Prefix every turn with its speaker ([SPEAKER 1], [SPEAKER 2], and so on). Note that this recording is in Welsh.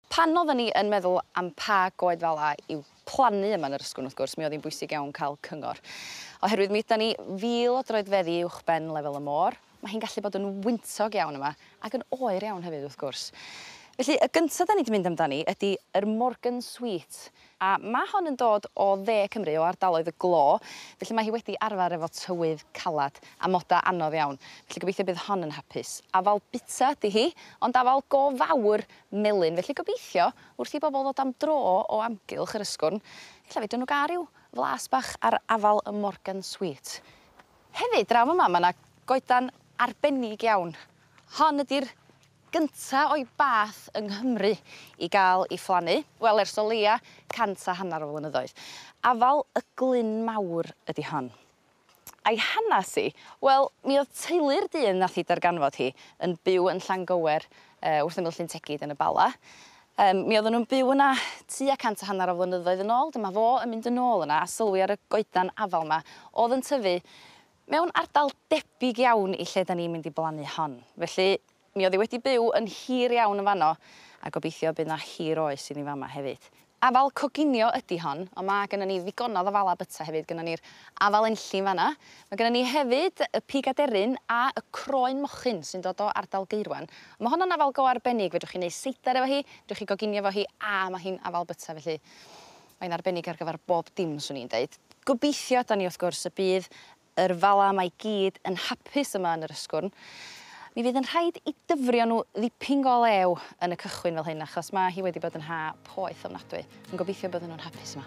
[SPEAKER 1] Pan oedden ni yn meddwl am pa goed fel 'a i'w plannu yma yn Yr Ysgwrn, wrth gwrs, mi oedd hi'n bwysig iawn cael cyngor. Oherwydd mi ydan ni fil o droedfeddi uwchben lefel y môr, mae hi'n gallu bod yn wyntog iawn yma, ac yn oer iawn hefyd, wrth gwrs. Felly, y gynta 'dan ni 'di mynd amdani ydi yr Morgan Sweet, A ma' hon yn dod o dde Cymru, o ardaloedd y glo, felly mae hi wedi arfer efo tywydd calad, a moda anodd iawn, felly gobeithio bydd hon yn hapus. Afal bita ydi hi, ond afal go fawr melyn, felly gobeithio, wrth i bobl ddod am dro o amgylch yr Ysgwrn, ella fedrwn nhw gael rhyw flas bach ar afal y Morgan Sweet. Hefyd, draw fama, ma' 'na goedan arbennig iawn. Hon ydi'r gynta o'i bath yng Nghymru i gael ei phlannu, wel ers o leia' cant a hannar o flynyddoedd. Afal y glyn mawr ydi hon. A'i hanas hi? Wel, mi o'dd teulu'r dyn nath hi darganfod hi yn byw yn Llangower yy wrth ymyl Llyn Tegid yn y Bala. Yym mi odden nw'n byw yna tua cant a hannar o flynyddoedd yn ôl, dyma fo yn mynd yn ôl yna a sylwi ar y goedan afal 'ma o'dd yn tyfu Mewn ardal debyg iawn i lle 'dan ni'n mynd i blannu hon. Felly, mi o'dd 'i wedi byw yn hir iawn yn fan 'no, a gobeithio y bydd 'na hir oes iddi fama hefyd. Afal coginio ydi hon, on' ma' gynnon ni ddigonadd o fala byta hefyd, gynnon ni'r afal enllyn fan 'na, ma' gynnon ni hefyd y pig aderyn a y croen mochyn sy'n dod o ardal Gaerwen. On' ma' honno'n afal go arbennig, fedrwch chi neu' seidar efo hi, fedrwch chi goginio efo hi, a ma' hi'n afal byta felly. Mae'n arbennig ar gyfer bob dim, 'swn i'n deud. Gobeithio, 'dan ni, wrth gwrs, y bydd yr Fala 'ma i gyd yn hapus yma yn yr Ysgwrn. Mi fydd yn rhaid i dyfrio nhw ddipyn go lew yn y cychwyn fel hyn, achos ma' hi wedi bod yn ha poeth ofnadwy. Ond gobeithio bydden nhw'n hapus yma.